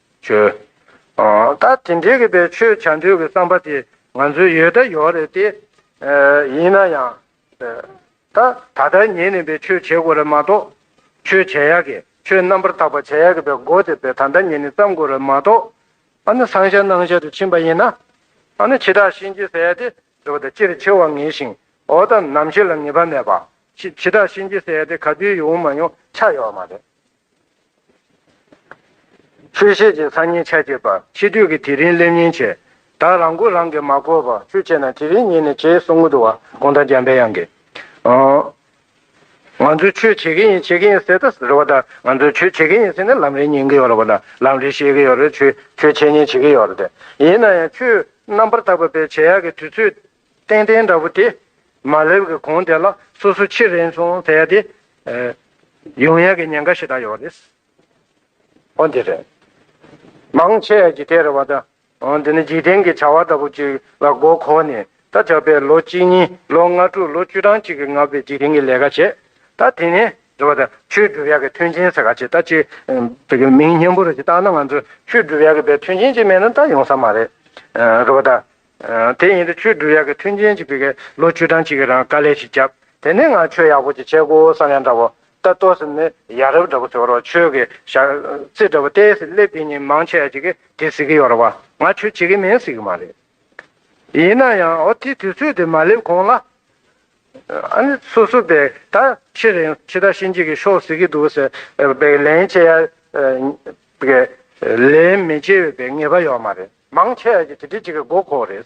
བྱོས། ད་དེ་འདྲའི་གི་པའི་ཆོས་བྱ་འདོད་གི་བསམ་པ་དེ་ང་ཚོའི་ཡོད་ད་ཡོད་རེད་དེ། ཡིན་ན་ཡང། ད་ད་ལྟར་ཉེས་ནས་པའི་ཆོས་བྱེད་དགོས་རེད་མ་གཏོགས། ཆོས་བྱ་ཡག་གི་ཆོས་རྣམ་པར་དག་པ་བྱ་ཡག་གི་པའི་མགོ་དེ་པའི་ད་ལྟ་ཉེས་ནས་བརྩམ་དགོས་རེད་མ་གཏོགས། ཨ་ནི་སང་ཤ་གནང་ཤ་དུ་ཕྱིན་པ་ཡིན་ན། ཨ་ནི་འཆི་བདག་གཤིན་རྗེ་ཟས་དེ་འདྲ་བ་དང་སྤྱིར་འཆི་བ་ངེས་ཤིང་འོ་ད་ནམ་ཤི་ལ་ངེས་པ་མེད་པ། འཆི་བདག་གཤིན་རྗེ་ཟས་དེ་ག་དུས་ཡོང་མ་ཡོང་ཆ་ཡོད་མ་རེད། ཆོས་བཤད་ཅིང་སང་ཉིན་ཆ་བྱེད་པ། ཕྱི་དུས་ཀྱི་དེ་རིང་སླེབས་ཉིན་བྱེད། བདག་རང་མགོ་རང་གིས་མ་བསྐོར་བར་ཆོས་བྱེད་ན་དེ་རིང་ཉིན་ནས་བྱེད་གསུང་གི་འདུག་བ་གོང་ད་འཇམ་པའི་དབྱངས་ཀྱིས། ང་ཚོས་ཆོས་བྱེད་ཀྱི་ཡིན་བྱེད་ཀྱི་ཡིན་ཟེར་ད་རེད་བ་ད་ང་ཚོས་ཆོས་བྱེད་ཀྱི་ཡིན་ཟེར་ན་ལམ་རིན་ཉན་གི་ཡོད་རེད་བ་ད་ལམ་རིན་ཤེས་ཀྱི་ཡོད་རེད་ཆོས་བྱེད་ཉིན་བྱེད་ཀྱི་ཡོད་རེད་ཡིན་ན་ཡང་ཆོས་རྣམ་པར་དག་པ་པའི་བྱེད་ཡག་གི་དུས་ཚོད་ཏན་ཏན་འདྲ་པོ་དེ་མ་སླེབས་གི་གོང་དེ་ལ་སོ་སོ་ཕྱིར་རེན་སོང་བས་དེ་ཡོང་ཡ་གི་ཉེན་ཁ་ཞིག་ད་ཡོག་རེད། འོ་འདི་རེད། མང་ཆེ་ཡ་གི་དེ་རེད་བ་ད་འོ་འདི་ནི་འཇིག་རྟེན་གི་བྱ་བ་ལྟ་བུ་ཅིག་ལ་མགོ་འཁོར་ནས་ད་ཆ་པས་ལོ་གཅིག་གཉིས་ལོ་ལྔ་དྲུག་ལོ་བཅུ་གྲངས་ཅིག་གི་ང་པས་འཇིག་རྟེན་གི་ལས་ཀ་བྱས་ད་དེ་ནས་རེད་བ་ད་ཆོས་སྒྲུབ་ཡ་གི་མཐུན་རྐྱེན་ཟེར་ག་ཅིག་ད་ཅིག་བེ་གི་མིང་སྙན་པོ་རེ་ཅིག་བཏགས་ན་ང་ཚོ་ཆོས་སྒྲུབ་ཡ་གི་བས་མཐུན་རྐྱེན་ཅིག་མེད་ན་ད་ཡོང་ས་མ་རེད་རེད་བ་ད་དེ་ཡིན་དུས་ཆོས་བསྒྲུབ་ཡག་གི་མཐུན་རྐྱེན་གཅིག་པུས་ལོ་བཅུ་གྲངས་གཅིག་གི་རང་དཀའ་ལས་ཤིག་བརྒྱབ་དེ་ནས་འང་ཆོས་ཡག་པོ་ཅིག་བྱེད་དགོས་བསམ་ཡང་འདྲ་བོ་ལྟ་ལྟོ་ཟིམ་ནས་ཡ་རབས་འདྲ་བོ་ཟོ་རོགས་ཆོས་ཀྱི་ཞག་རྩི་འདྲ་བོ་ལྟས་ཟིག་སླེབས་དེ་ཉིན་མང་ཆད་ཅིག་དེ་ཟིག་གི་ཡོད་རེད་བ་ང་ཆོས་བྱེད་ཀྱི་མིན་ཟེར་གྱི་མ་རེད་ཡིན་ན་ཡང་འོ་དེ་དུས་ཚོད་དེ་མ་སླེབས་གོང་ལ། ཨ་ནི་སོ་སོ་པས་ད་ཕྱི་རིང་ཕྱི་ཟླ་ཕྱི་འཇིག་གི་ཤོག་ཟེར་གྱི་འདུག་ཟེར་བས་ལན་བྱེད་ཡ། ལན་མི་བྱེད་འོས་པའི་ངེས་པ་ཡོད་མ་རེད། མང་ཆེ་བ་ཞིག་གིས་དེ་གཅིག་གི་མགོ་ཁོག་རེད།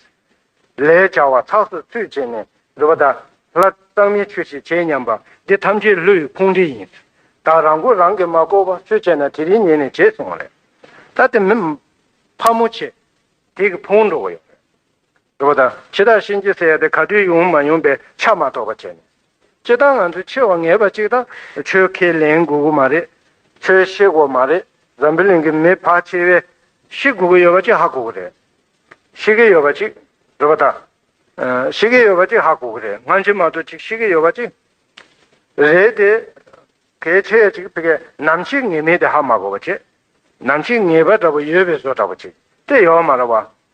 ལས་བྱ་བ་ཚགས་སུ་ཚུད་བྱས་ནས་འདུག་པ་དང། ལ་གཙང་མའི་ཆོས་ཤིག་བྱེད་སྙམ་པ། འདི་ཐམས་ཅད་ལུས་ཕུང་འདྲེ་ཡིན། ད་རང་མགོ་རང་གིས་མ་བསྐོར་བ་སུས་བྱས་ན་དེ་རིང་ཉིན་ནས་བྱེད་སོང་རེད། ད་དེ་མི། ཕ་མོ་ཆེ། དེ་གི་ཕུང་འགྲོ་གི་ཡོད་རེད། དགོས་པ་དང་ཕྱི་ཐག་ཤིན་ཅི་ཟེར་ཏེ་ག་དུས་ཡོང་མ་ཡོང་པའི་ཆ་མ་ཐོགས་པ་བྱས་ནས། སྤྱི་བཏང་ང་ཚོས་ཆེ་བ་ངེས་པ་གཅིག་དང་ཆོལ་ཁས་ལེན་དགོས་གི་མ་རེད། ཆོལ་ཤེས་དགོས་མ་རེད། འཛམ་བུ་གླིང་གི་མི་བག་ཆེ་བས་ཤེས་དགོས་གི་ཡོད་པ་གཅིག་ཧ་གོ་གི་རེད། ཤེས་གི་ཡོད་པ་གཅིག། དགོས་པ་དང། ཤེས་གི་ཡོད་པ་གཅིག་ཧ་གོ་གི་རེད་སྔ་ཕྱི་མ་གཏོགས་གཅིག་ཤེས་གི་ཡོད་པ་གཅིག། རེད་དེ། གལ་ཆེ་བ་གཅིག་ཕི། ནམ་ཤེས་ངེས་མེད་དེ་ཧ་མ་གོ་བ་གཅིག། ནམ་ཤེས་ངེས་པ་འདྲ་པོ་ཡོད་པའི་བཟོ་འདྲ་པོ་གཅིག་དེ་ཡོད་མ་རེད་བ།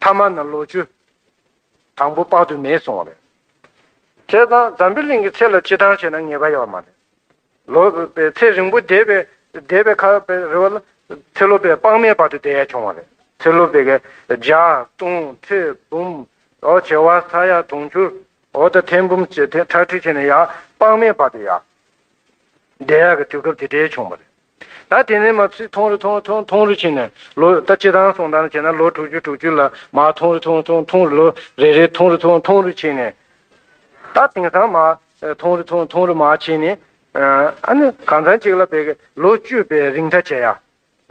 མཐའ་མ་ན་ལོ་བཅུ། དང་པོ་དཔག་ཏུ་མེད་སོང་བ་རེད། བྱས་ཙང་འཛམ་བུའི་གླིང་གི་ཚད་ལ་ཕྱི་འདང་བྱས་ན་ངེས་པ་ཡོད་པ་མ་རེད། ལོ་པའི་ཚེ་རིང་པོ་འདས་པའི་འདས་པའི་ཁར་པའི་རི་བོ་ལ། ཚེ་ལོ་པའི་དཔག་མེད་བར་དུ་བསྡད་ཡ་བྱུང་བ་རེད། ཚེ་ལོ་པའི་བརྒྱ། སྟོང། ཁྲི། འབུམ། འོ་བྱེ་བ་ས་ཡ་དུང་ཕྱུར། འོ་དང་ཐེར་འབུམ་བྱེ་ཐེར་ཁྲག་ཁྲིག་བྱས་ནས་ཡང་དཔག་མེད་བར་དུ་ཡ། བདེ་ཡག་གི་དུས་སྐབས་དེ་འདྲའི་བྱུང་བ་རེད། ད་དེ་ནས་མ་ཕྱི་ཐུང་རུ་ཐུང་ཐུང་ཐུང་རུ་ཕྱིན་ནས་ལོ་ད་སྤྱི་དང་སོང་དང་བྱས་ན་ལོ་དྲུག་ཅུ་དྲུག་ཅུ་ལ་མ་ཐུང་རུ་ཐུང་ཐུང་ཐུང་རུ་ལོ་རེ་རེ་ཐུང་རུ་ཐུང་ཐུང་རུ་ཕྱིན་ནས། ད་དེང་སང་མ་ཐུང་རུ་ཐུང་ཐུང་རུ་མ་ཕྱིན་ནས། ཨ་ནི་གང་ཚང་གཅིག་ལ་བས་ལོ་བཅུ་པའི་རིང་ད་བྱས་ཡ།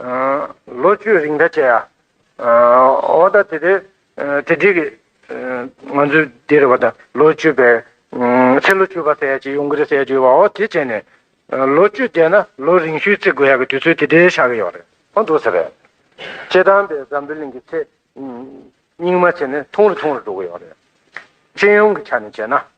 ལོ་བཅུའི་རིང་ད་ཆ་ཡ། འོ་ད་དེ་དེ། དེ་འགྲིག་གི། ང་ཚོའི་འདིར་བ་དང་ལོ་བཅུ་བས། ཚེ་ལོ་བཅུ་བ་ཟེར་ཡ་ཅིག་ཡོང་གི་རེད་ཟེར་གྱི་ཡོད་པ་འོ་དེ་བྱས་ནས། ལོ་བཅུ་བསྡད་ན་ལོ་རིང་ཤོས་བརྩི་དགོས་ཡ་གི་དུས་ཚོད་དེ་འདྲའི་ཆགས་གི་ཡོད་རེད་མ་འདུག་ཟེར། སྤྱི་དམ་པས་འཛམ་བུའི་གླིང་གི་ཚེ། རྙིང་མ་བྱས་ནས་ཐུང་རུ་ཐུང་རུ་འགྲོ་གི་ཡོད་རེད། སྤྱི་ཡོངས་ཀྱི་ཆ་ནས་བྱས་ན།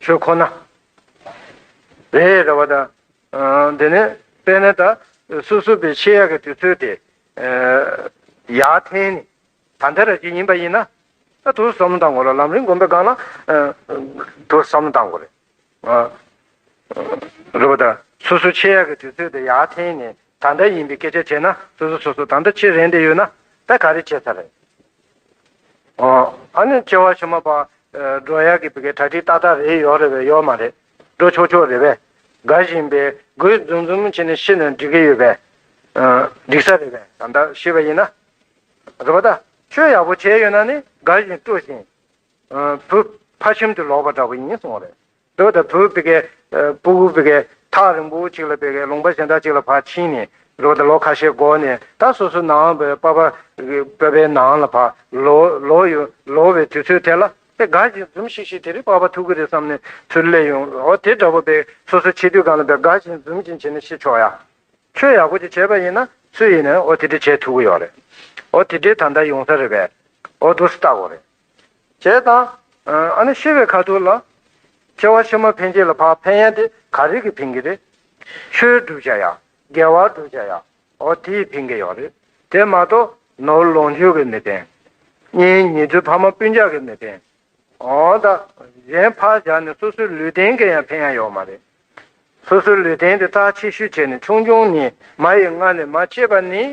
ཆོས་ཁོ་ན། རེ་རེ་བ་དང། འདི་ནི་དཔེར་ན་ད་སོ་སོ་པའི་ཆེ་ཡ་གི་དུས་ཚོད་དེ། ཡ་ཐེན་ནི་ད་ལྟ་ར་གཅིག་ཡིན་པ་ཡིན་ན། ད་ཐུགས་བསམ་བཏང་གོ་ལ་ལམ་རིང་སྒོམ་པའི་སྒང་ལ། ཐུགས་བསམ་བཏང་གོ་རེ། རེ་བ་དང། སོ་སོ་ཆེ་ཡ་གི་དུས་ཚོད་དེ་ཡ་ཐེན་ནི་ད་ལྟ་ཡིན་པའི་སྐད་ཆ་བྱས་ན་སོ་སོ་སོ་སོ་ད་ལྟ་ཕྱིར་རན་དེ་ཡོད་ན་ད་ག་རེ་བྱས་ཚར་རེད། ཨ་ནི་སྐྱེ་བ་ཕྱི་མ་པ་འགྲོ་ཡག་གི་བི་གའི་གྲ་སྒྲིག་ཏག་ཏག་རེད་ཡོག་རེད་བས་ཡོག་མ་རེད་འགྲོ་ཆོག་ཆོག་རེད་བས་དགའ་བཞིན་པས་དགོས་འཛུམ་འཛུམ་བྱས་ནས་ཤི་ནས་འགྲིག་གི་ཡོད་བས་འགྲིག་ས་རེད་བས་ད་ལྟ་ཤི་བ་ཡིན་ན་རེད་བ་ད་ཆོས་ཡག་པོ་བྱས་ཡོད་ན་ནི་དགའ་བཞིན་སྤྲོ་བཞིན་བུ་ཕ་ཁྱིམ་དུ་ལོག་པ་འདྲ་བོ་ཡིན་སོང་རེད་རྡོ་དང་བུ་བི་གའི། པུ་གུ་བི་གའི། ཐག་རིང་པོ་གཅིག་ལ་བི་གའི་ལུང་པ་གཞན་དག་ཅིག་ལ་བག་ཕྱིན་ནས། ལོ་དང་ལོ་ཁ་ཤས་འགོར་ནས་ད་སོ་སོའི་ནང་བའི་པ་པ། པ་པའི་ནང་ལ་བག། ལོ། ལོ་ཡོད། ལོ་བའི་དུས་ཚོད་དེ་ལ། དེ་དགའ་ཞིང་འཛུམ་ཤིག་ཤིག་དེ་རིང་པ་པ་ཐུག་གི་རེད་བསམ་ནས་ཚུར་སླེབས་ཡོང། ཨོ་དེ་འདྲ་བོ་པས་སོ་སོའི་ཆེ་དུས་གང་ལ་བས་དགའ་ཞིང་འཛུམ་ཞིང་བྱས་ནས་ཤི་ཆོག་ཡ། ཆོས་ཡག་པོ་ཅིག་བྱས་པ་ཡིན་ན་སུ་ཡིན་ནའི་ཨོ་དེ་འདྲ་བྱས་ཐུག་གི་ཡོད་རེད། ཨོ་དེ་འདྲའི་ད་ལྟ་ཡོང་ས་རེད་པས། ཨོ་དུ་སི་ལྟ་གོ་རེད། ཞེས་དང། ཨ་ནི་ཤི་བའི་ཁ་ཐུག་ལ། སྐྱེ་བ་ཕྱི་མ་འཕེན་བྱེད་ལ་བག་འཕེན་ཡ་དེ་ག་རིགས་ཀྱི་འཕེན་གྱི་རེད། ཆོས་བསྒྲུབ་བྱ་ཡ། དགེ་བ་བསྒྲུབ་བྱ་ཡ། འོ་དེའི་འཕེན་གྱི་ཡོག་རེད། དེ་མ་གཏོགས་ནོར་ལོངས་སྤྱོད་ཀྱི་མི་འཕེན། གཉེན་ཉེ་དུ་ཕ་མ་སྤུན་ཆགས་ཀྱི་མི་འཕེན། འོང་ད། གཞན་ཕར་བཞག་ནས་སོ་སོའི་ལུས་རྟེན་གྱི་ཡང་འཕེན་ཡ་ཡོག་མ་རེད། སོ་སོའི་ལུས་རྟེན་དེ་རྟགས་ཆེ་ཤོས་བྱས་ནས་ཆུང་ཆུང་ནས་མ་ཡི་མངལ་ནས་མ་སྐྱེས་པ་ནི།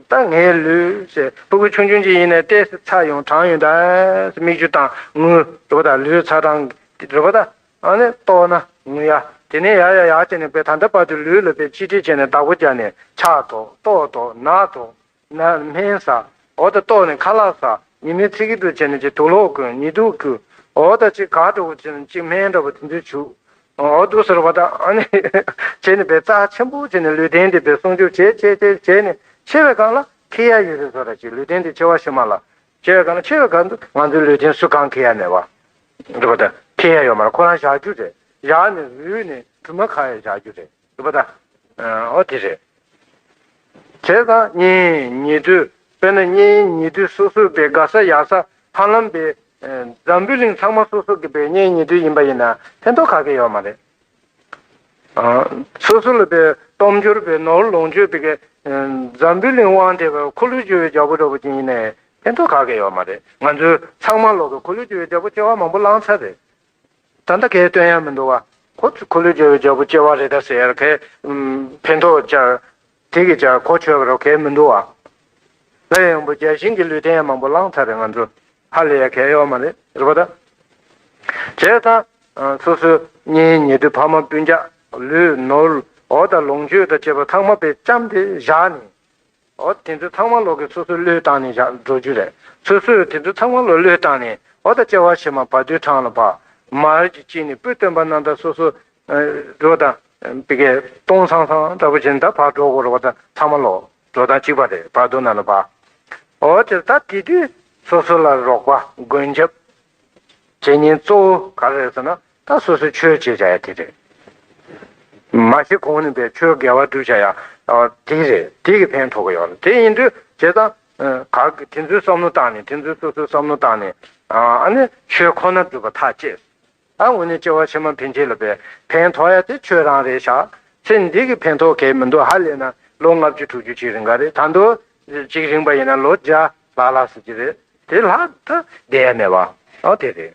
ད་ངའི་ལུས། སྤུ་གུ་ཆུང་ཆུང་གཅིག་ཡིན་ནས་ལྟས་ཚ་ཡང་གྲང་ཡང་དྭངས། སྨིག་རྒྱུ་དང་ངུ། རེ་བ་ད་ལུས་ཚ་གྲང། རེ་བ་ད། ཨ་ནི་ལྟོགས་ན་ངུ་ཡ། དེ་ནས་ཡར་ཡར་ཡར་བྱས་ནས་བས་ད་ལྟ་བར་དུ་ལུས་ལ་བས་ཅི་དྲིས་བྱས་ནས་བདག་པོ་བརྒྱག་ནས་ཆག་དོགས་ལྟོགས་དོགས་ན་དོགས། ན་སྨན་ཟ། འོ་ད་ལྟོགས་ནས་ཁ་ལག་ཟ། ཉི་མའི་ཚིག་གི་དུག་བྱས་ནས་ཅིག་དུག་ལོག་གོན་ཉིས་དུག་བསྐུ། འོ་ད་ཅིག་གར་འགྲོ་བོ་ཅིག་སྨན་འདྲ་བོ་དེ་ཚོས་བྱུག། འོ་དུ་ཟེར་བ་དང་ཨ་ནི་བྱས་ནས་བས་རྩ་ཆེན་པོ་བྱས་ནས་ལུས་རྟེན་འདི་བས་སྲུང་སྐྱོབ་བྱས་བྱས་བྱས་བྱས་ནས་ཆེ་བའི་སྒང་ལ་ཁེ་ཡ་ཡོད་རེད་ཟོ་ར་ཅིག་ལུས་རྟེན་འདི་ཆེ་བ་ཞིག་མ་ལ་ཆེ་བའི་སྒང་ལ་ཆེ་བའི་སྒང་དུ་ང་ཚོའི་ལུས་རྟེན་སུ་གང་ཁེ་ཡ་མེད་བ་འགྲོ་བ་དང་ཁེ་ཡ་ཡོད་མ་ར་ཁོ་རང་བཞག་རྒྱུ་རེད་བཞག་ནས་རུལ་ནས་དུ་མ་ཁ་ཡ་བཞག་རྒྱུ་རེད། འདུག་པ་དང། ཨོ་དེ་རེད། བྱས་ཙང་གཉིས་ཉེ་དུས་དཔེར་ན་གཉིས་ཉེ་དུས་སོ་སོའི་བའི་དགའ་ས་ཡག་ས་ཧ་ལམ་བའི་འཛམ་བུའི་གླིང་ཚང་མ་སོ་སོ་གི་བའི་གཉིས་ཉེ་དུས་ཡིན་པ་ཡིན་ན་ཕན་ཐོགས་ག་གེ་ཡོད་མ་རེད། སོ་སོ་ལ་བའི་སྟོབས་འབྱོར་བའི་ནོར་ལོངས་སྤྱོད་པའི་གི་འཛམ་བུའི་གླིང་དབང་བྲལ་བའི་འཁོར་ལོས་སྒྱུར་བའི་རྒྱལ་པོ་འདྲ་བོ་ཅན་ཡིན་ནའི་ཕན་ཐོགས་ག་གེ་ཡོད་མ་རེད། ང་ཚོའི་ཚང་མ་ལོག་གི་འཁོར་ལོས་སྒྱུར་བའི་རྒྱལ་པོ་སྐྱེ་བ་མང་པོ་བླངས་ཚར་རེད། ད་ལྟ་ཁའི་སྟོན་ཡར་མི་འདུག་བ། ཁོ་ཚོས་ཁོ་ལོས་འཇལ་བའི་འཇའ་བུ་ལྕི་བ་རེ་ད་ཟེར་ཡར་ཁའི་ཕན་ཐོགས་བཅར། དེ་གིས་ཀྱང་ཁོ་ཆོས་རོགས་ཁའི་མི་འདུག་བ། སླར་ཡང་བུ་བརྒྱ་ཤིང་གི་ལུས་རྟེན་ཡར་མང་པོ་བླངས་ཚར་རེད་ང་ཚོ། ཧ་ལས་ཡར་ཁའི་གཡོག་མ་རེད་རེད་པ་ད། བྱས་ཙང། སོ་སོའི་གཉེན་ཉེ་དུ་ཕ་མ་སྤུན་རྒྱག་ལུས་ནོར་ཨོ་ད་ལོངས་སྤྱོད་དང་བཅས་པ་ཚང་མ་པའི་ལྕམ་དེ་བཞག་ནས། ཨོ་དེ་ཚོ་ཚང་མ་ལོག་གི་སོ་སོ་བློས་བཏང་ནས་བཞག་འགྲོ་རྒྱུ་རེད་སོ་སོས་དེ་ཚོ་ཚང་མ་ལོ་བློས་བཏང་ནས་ཨོ་ད་བཅའ་བ་བྱེད་མ་བར་དུས་གྲང་ལ་བ་མར་གྱི་དཀྱིལ་ནས་སྤུས་སྟོན་པ་རྣམས་ད་སོ་སོ་འགྲོ་དང་བི་གའི་སྟོང་སང་སང་འདྲ་པོ་བྱེད་ནས་ད་བར་འགྲོ་དགོས་རོགས་ད་ཚང་མ་ལོག་འགྲོ་ད་གཅིག་པ་རེད་བར་དུ་ན་ལ་བ་ཨོ་དེར་ད་དེ་དུས་སོ་སོ་ལ་རོགས་པ་མགོན་སྐྱབས་བྱེད་ཉིན་གཙོ་བོ་ག་རེ་རེད་ཟེར་ན་ད་སོ་སོའི་ཆོས་བྱེད་བྱ་ཡ་དེ་རེད། མ་བྱེད་གོང་ནས་པའི་ཆོས་དགེ་བ་བསྒྲུབ་བྱ་ཡ་དེ་རེད་དེ་གི་ཕན་ཐོག་གི་ཡོད་ལ་དེ་ཡིན་དུས་བྱས་ཙང་གག་དེ་ཚོའི་བསམ་བློ་བཏང་ནས་དེ་ཚོའི་སོ་སོའི་བསམ་བློ་བཏང་ནས་ཨ་ནི་ཆོས་ཁོ་ན་བསྒྲུབ་པ་ཐག་བཅད་སོང་ཨ་ངོ་ནས་སྐྱེ་བ་ཕྱི་མ་ཕན་ཆད་ལ་པའི་ཕན་ཐོག་ཡ་དེ་ཆོས་རང་རེད་ཤག་ཚེ་འདི་གི་ཕན་ཐོག་གས་མི་འདུག་ཧ་ལས་ན་ལོ་ལྔ་བཅུ་དྲུག་ཅུ་གཅིག་རིང་ག་རེད་ད་འདུག་གཅིག་རིང་པ་ཡིན་ན་ལོ་བརྒྱ་ལྷག་ལྷག་ཟེར་གྱི་རེད་དེ་ལྷག་ཏུ་བསྡད་ཡ་མེད་པ་ཨ་དེ་རེད།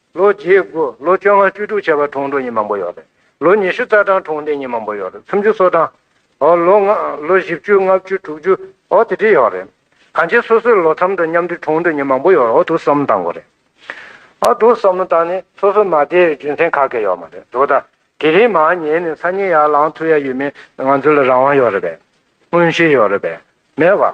ལོ་བརྒྱད་དགུ་ལོ་བཅོ་ལྔ་བཅུ་དྲུག་བྱས་པ་གྲོང་དྲུག་གཉིས་མང་པོ་ཡོད་རེད། ལོ་ཉི་ཤུ་རྩ་གྲངས་གྲོང་སྡེ་གཉིས་མང་པོ་ཡོད་རེད་སུམ་ཅུ་སོ་གྲངས། ཨོ། ལོ་ལྔ་ལོ་བཞི་བཅུ་ལྔ་བཅུ་དྲུག་ཅུ། ཨོ་དེ་དྲིས་ཡོད་རེད། གང་ཅི་སོ་སོའི་ལོ་མཚམས་དང་མཉམ་དུ་གྲོང་དྲུག་གཉིས་མང་པོ་ཡོད་རེད་ཨོ་དུག་བསམ་བློ་བཏང་དགོས་རེད། ཨོ་དུག་བསམ་བློ་བཏང་ནས་སོ་སོ་མ་བསྡད་ཡོད་རྒྱུ་མཚན་ག་གེ་ཡོད་མ་རེད་དོ་ད་དེ་རིང་མ་ཉལ་ནས་ཚ་ཉིལ་ཡར་ལངས་ཐུབ་ཡ་ཡོད་མེད་ང་ཚོ་ལ་རང་དབང་ཡོད་རེད་པས། མངོན་ཤེས་ཡོད་རེད་པས། མེད་བ།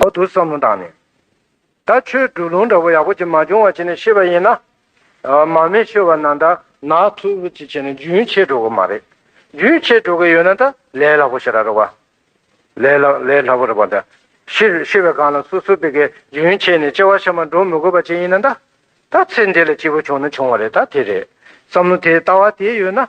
འོག་ཏུ་བསམ་བློ་བཏང་ནས། ད་ཁྱོད་འབྲུག་ལུང་འདྲ་བོ་ཡག་པོ་ཅིག་མ་བྱུང་བ་བྱས་ནས་ཤི་བ་ཡིན་ན། མ་མེད་ཤི་བ་ན་ད་ནག་ཐུག་པོ་ཅིག་བྱས་ནས་རྒྱུན་ཆད་འགྲོ་གི་མ་རེད། རྒྱུན་ཆད་འགྲོ་གི་ཡོད་ན་ད་ལས་སླ་པོ་ཞིག་རག་རོགས། ལས་སླ་པོ་རག་པ་ད། ཤི་བའི་སྒང་ལ་སོ་སོ་པི་ཀའི་རྒྱུན་ཆད་ནས་ལྕེ་བ་ཤ་མ་འགྲོ་མི་དགོས་པ་ཅིག་ཡིན་ན་ད། ད་ཚེ་འདི་ལ་སྐྱིད་པོ་བྱུང་ན་བྱུང་བ་རེད་ད་དེ་རེད། བསམ་བློ་དེ་ལྟ་བ་དེ་ཡོད་ན།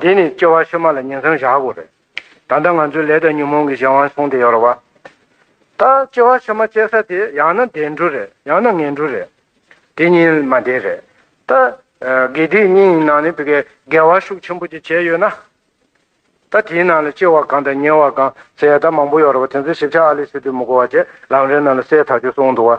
འདི་ནི་སྐྱེ་བ་ཕྱི་མ་ལ་ཉིང་མཚམས་བཞག་དགོས་རེད། ད་ལྟ་ང་ཚོའི་ལས་དང་ཉོན་མོངས་ཀྱི་གཞན་དབང་བཟུང་སྟེ་ཡོད་རེད་བ། ད་སྐྱེ་བ་ཕྱི་མ་སྐྱེ་ས་དེ་ཡང་ན་བདེ་འགྲོ་རེད་ཡང་ན་ངན་འགྲོ་རེད། དེ་གཉིས་མ་འདས་རེད། ད་དགེ་སྡིག་གཉིས་ཡི་ནང་ནས་བི་གའི་དགེ་བ་ཤུགས་ཆེན་པོ་ཅིག་བྱས་ཡོད་ན། ད་དེའི་ནང་ལ་སྐྱེ་བ་གང་དང་ཉེ་བ་གང་ཟེར་ཡ་ད་མང་པོ་ཡོད་རེད་བ་དེ་ཚོའི་ཞིབ་ཆ་ཨ་ལེ་སི་ཏུས་མི་གོ་བ་བཅས་ལམ་རེའི་ནང་ལ་གསལ་ཐག་ཆོད་སོང་འདུག་བ།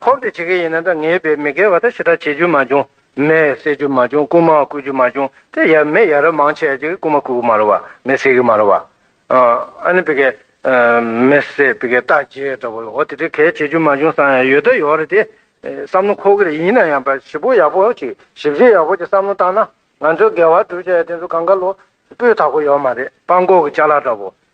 ཕོབ་དེ་བྱེད་མཁན་ཡིན་ན་འདྲ་ངེས་པས་མི་འགལ་བ་དང་ཞེ་དྲག་བྱེད་རྒྱུ་མ་བྱུང། མེད་བསད་རྒྱུ་མ་བྱུང་རྐུན་མ་བརྐུ་རྒྱུ་མ་བྱུང་དེ་ཡ་མེད་ཡ་རབས་མང་ཆེ་བྱེད་རྐུན་མ་བརྐུ་གི་མ་རུ་བ་མེད་བསད་གི་མ་རུ་བ། ཨ་ནི་བི་གས། མེད་བསད་བི་གས་རྟགས་བརྒྱད་འདྲ་བོ་ལ་འོ་དེ་འདྲའི་གལ་བྱེད་རྒྱུ་མ་བྱུང་བསམ་ཡང་ཡོད་ད་ཡོད་རེད་དེ། བསམ་བློ་འཁོར་གི་རེད་ཡིན་ན་ཡང་བ་ཞི་པོ་ཡག་པོ་ཞིག་ཞིབ་བཤེར་ཡག་པོ་ཀྱི་བསམ་བློ་བཏང་ན་ང་ཚོའི་འགལ་བ་སྒྲུབ་བྱ་ཡ་དེ་ཚོ་གང་ག་ལོ་སྤོས་དག་པོ་ཡོད་མ་རེད་སྤང་ཀོག་གི་ལྕགས་ལ་འདྲ་བོ།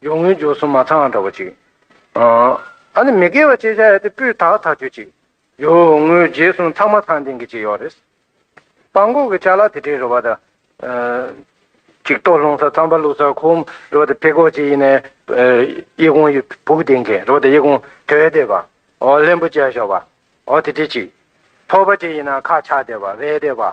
སྦྱོར་དངོས་སྦྱོར་གསུམ་མ་ཚང་འདྲ་བ་ཅིག། ཨ་ནི་མི་དགེ་བ་སྤྱད་བྱ་ཡ་དེ་སྤུས་དག་ཐག་ཆོད་ཅིག། སྦྱོར་དངོས་རྗེས་གསུམ་ཚང་མ་ཚང་ལྡན་གྱི་ཅིག་ཡོད་རེད། སྤང་ཀོག་གི་ཆ་ལག་དེ་འདྲའི་རུ་བ་དང། ཅིག་ལྟོ་སློང་ས་ཚངས་པ་བླུག་ས་ཁོམ་རུ་བ་དེ་ཕེ་ཀོག་ཅིག་ཡིན་ནའི། དབྱི་གུང་ཡི་བུག་ལྡིང་མཁན་རུ་བ་དེ་དབྱི་གུང་དོད་བསྡད་པ། ཨོ་ལྷན་པོ་བཅལ་ཞོག་པ། ཨོ་དེ་དྲིལ་ཅིག། ཐོག་པ་ཅིག་ཡིན་ན་ཁ་ཆག་བསྡད་པ་བས་བསྡད་པ།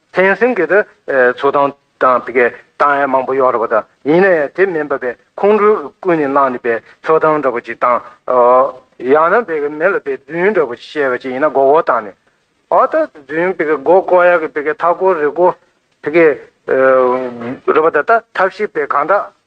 ཕན་སེམས་ཀྱི་དེ་ཚོ་དང་དང་པི་ཀའི་དང་ཡ་མང་པོ་ཡོག་ར་པ་དང་ཡིན་ན་ཡ་དེ་མིན་པ་པའི་ཁོང་ཁྲོ་ཀུན་ནས་བསླངས་ནས་པའི་ཚོ་དང་འདྲ་པོ་ཅིག་དང་ཡང་ན་པི་ཀའི་མེ་ལ་པའི་རྫུན་འདྲ་པོ་ཅིག་བཤད་པ་ཅིག་ཡིན་ན་མགོ་བོ་བཏང་ནས་ཨོ་ད་རྫུན་པི་ཀའི་མགོ་བསྐོར་ཡག་གི་པི་ཀའི་ཐག་བསྐོར་རེ་བསྐོར་པི་ཀའི་རུ་པ་ད་ད་ཐབས་ཤེས་པའི་གང་དྲག་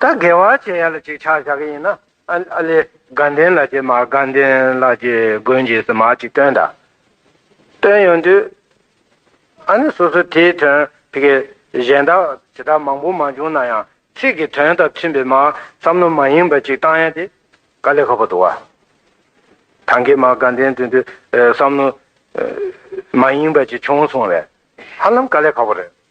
ད་དགེ་བ་བྱེད་ཡ་ལ་ཅིག་ཆགས་བྱ་གི་ཡིན་ན་ཨ་ལེ་དགའ་ལྡན་ལ་ཅིག་མར་དགའ་ལྡན་ལ་ཅིག་དགོན་གྱི་ཟི་མར་ཅིག་བཏོན་ད་བཏོན་ཡོང་དུས་ཨ་ནི་སོ་སོ་དེའི་དོན་དེ་གས་གཞན་དག་བྱེད་ཐབས་མང་པོ་མ་བྱུང་ན་ཡང་ཚིག་གི་དོན་དང་མཐུན་པའི་མར་བསམ་བློ་མ་ཡིན་པ་ཅིག་བཏང་ཡ་དེ་དགའ་ལས་ཁག་པོ་འདུག་བ། ད་དགེ་མར་དགའ་ལྡན་དོན་དུ་བསམ་བློ་མ་ཡིན་པ་ཅིག་བྱུང་སོང་བས་ཧ་ལམ་དགའ་ལས་ཁག་པོ་རེད།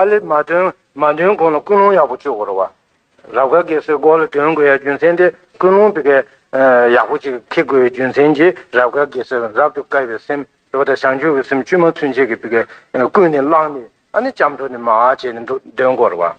ཨ་ལེ་མ་འདོན་མ་འདོན་གོང་ལ་ཀུན་སློང་ཡག་པོ་བཅུག་གོ་རོགས་བ། རབ་དགའ་དགེ་བསོད་སྐོར་ལ་འདོན་དགོས་ཡ་རྒྱུ་མཚན་དེ་ཀུན་སློང་དེ་གའི་ཡག་པོ་ཅིག་ཁེགས་དགོས་ཡ་རྒྱུ་མཚན་གྱིས་རབ་དགའ་དགེ་བསོད་རབ་ཏུ་དཀའ་བའི་སེམས་རེ་བ་དང་བྱང་ཆུབ་ཀྱི་སེམས་བཅུད་མ་ཚུན་ཆད་ཀྱི་དེ་གའི་ཀུན་ནས་བསླངས་ནས་ཨ་ནི་ལྕམ་དྲོ་ནས་མ་ཨ་བྱས་ནས་འདུག་འདོན་གོ་རོགས་བ།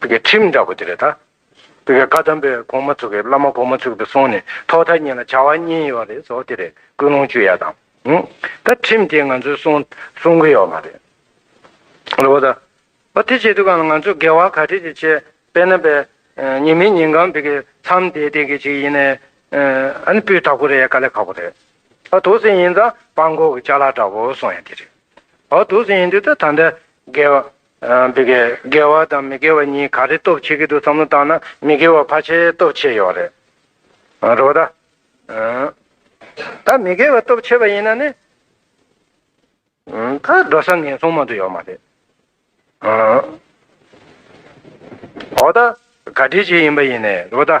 བོད་སྐད་ཁྲིམས་འདྲ་པོ་དེ་རེད་ད། བོད་སྐད་བཀའ་གདམས་པའི་གོང་མ་ཚུགས་གི་བླ་མ་གོང་མ་ཚུགས་པའི་སོང་ནས་ཐོག་མཐའ་གཉིས་ལ་བྱ་བ་གཉིས་ཡོད་རེད་ཟོ་དེ་རེད་ཀུན་སློང་བཅུ་ཡ་དང། ད་ཁྲིམས་དེ་ང་ཚོས་སྲུང་སྲུང་གི་ཡོད་མ་རེད། རེད་བ་ད། ཨོ་དེ་བྱེད་དུས་གང་ལ་ང་ཚོས་འགལ་བ་ག་ཁྲིད་ཅིག་བྱེད་དཔེ་ན་བས་ཉིན་མི་ཉིན་གང་བོད་སྐད་མཚམས་འདས་འདས་གི་ཅིག་ཡིན་ནས་ཨ་ནི་སྤུས་དག་པོ་རེད་ཡ་དཀའ་ལས་ཁག་པོ་རེད། ཨ་དུག་སེང་ཡིན་ཙང་སྤང་ཁོག་གི་ལྕགས་ལ་འདྲ་བོ་སོང་ཡ་དེ་རེད། ཨོ་དུག་སེང་ཡིན་དུས་ད་ད་འདྲ་འགལ་བ་འདི་གས་དགེ་བ་དང་མི་དགེ་བ་གཉིས་ག་རེ་སྟོབས་ཆེ་གི་འདུག་བསམ་བློ་བཏང་ན་མི་དགེ་བ་ཕ་ཆེ་སྟོབས་ཆེ་ཡོད་རེད་རེད་པ་ད། ད་མི་དགེ་བ་སྟོབས་ཆེ་བ་ཡིན་ན་ནི། ད་འགྲོ་ས་ངན་སོང་མང་དུ་ཡོད་མ་རེད། འོ་ད་ག་དུས་ཆེ་ཡིན་པ་ཡིན་ནས་རེད་པ་ད།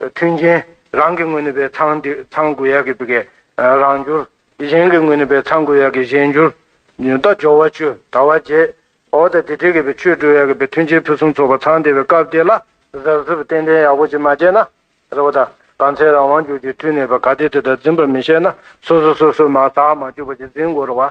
མཐུན་རྐྱེན། རང་གི་ངོས་ནས་པའི་ཚང་དེ་ཚང་དགོས་ཡ་གི་པི་གའི་རང་འགྱུར། གཞན་གི་ངོས་ནས་པའི་ཚང་དགོས་ཡ་གི་གཞན་འགྱུར། ཉོན་རྟོག་སྦྱོར་བ་བཅུ་དར་བ་རྗེས། འོག་དང་དེ་འབྲེལ་གི་པའི་ཆོས་སྤྲོས་ཡ་གི་པའི་མཐུན་རྐྱེན་ཕུན་སུམ་ཚོགས་པ་ཚང་དེ་བའི་སྐབས་དེ་ལ། གཟབ་གཟབ་ཏན་ཏན་ཡག་པོ་ཅིག་མ་བྱས་ན། རེ་བ་དང་གང་ཚེ་རང་དབང་འགྱུར་གྱི་མཐུ་ནུས་པ་ག་དེ་དེ་དག་འཛིན་པར་མི་ཤེས་ན་སོ་སོ་སོ་སོའི་མ་བསགས་མ་བཅོས་པ་ཅིག་འཛིན་དགོས་རུང་བ